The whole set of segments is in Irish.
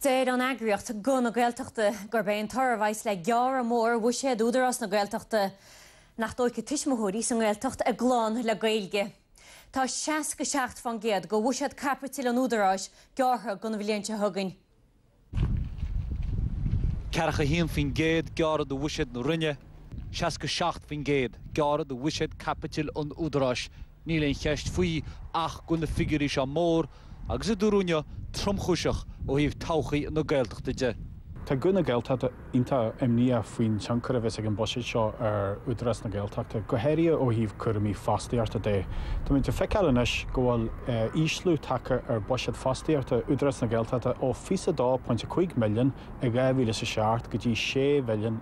Deir an eagraíocht Guth na Gaeltachta gurb é an toradh a bheas le gearradh mór bhuiséad Údarás na Gaeltachta nach dtógfaidh tuismitheoirí sa nGaeltacht a gclann le Gaeilge. Tá 67% de bhuiséad caipitil an Údaráis gearrtha don bhliain seo chugainn. 41% gearrtha de bhuiséad na Roinne, 67% gearrtha de bhuiséad caipitil an Údaráis Níl aon cheist faoi ach go bhfuil na figiúirí seo mór agus, a dúradh inniu, tromchúiseach ó thaobh todhchaí na Gaeltachta de. Tá Guth na Gaeltachta iontach imníoch faoin tionchar a bheas ag an bhuiséad seo ar Údarás na Gaeltachta, go háirithe ó thaobh cúraimí fostaíochta de. Tá muid ag feiceáil anois go bhfuil ísliú tagtha ar bhuiséad fostaíochta Údarás na Gaeltachta ó 22.5 milliún i 2007 go dtí sé mhilliún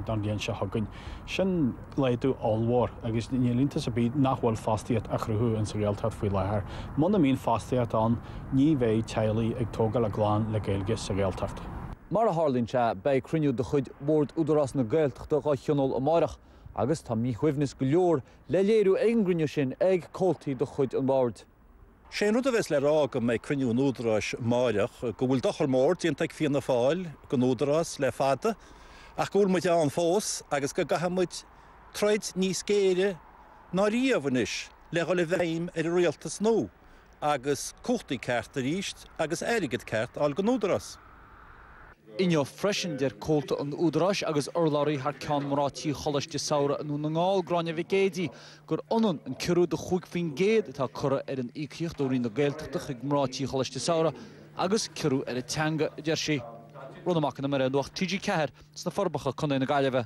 don bhliain seo chugainn. Sin. laghdú ollmhór agus níl iontas ar bith nach bhfuil fostaíocht á chruthú insa Ghaeltacht faoi láthair. Muna mbíonn fostaíocht ann, ní bheidh teaghlaigh ag tógáil a gclann le Gaeilge sa Ghaeltacht. Mar a tharlaíonn sé, beidh cruinniú de chuid Bhord Údarás na Gaeltachta dhá thionól amárach agus tá míshuaimhneas go leor le léiriú ag an gcruinniú sin ag comhaltaí de chuid an Bhoird. Sé an rud a bheas le rá agam ag cruinniú an Údaráis amáireach go bhfuil dochar mór déanta ag Fianna Fáil don Údarás le fada ach go bhfuil muid ann fós agus go gcaithfidh muid troid níos géire ná riamh anois le dhul i bhfeidhm ar an Rialtas nua agus cumhachtaí cearta arís agus airgead ceart a fháil don Údarás. Inniu freisin, deir comhalta an Údaráis agus urlabhraí thar ceann mná tí Choláiste Samhraidh i nDún na nGall, Gráinne Mhic Géidigh, gur ionann an ciorrú de chúig faoin gcéad atá curtha ar an íocaíocht ó Roinn na Gaeltachta chuig mná tí Choláiste Samhraidh agus ciorrú ar an teanga, a deir sí. Rónán Mac Con Iomaire, Nuacht TG4, sna Forbacha, Co na Gaillimhe.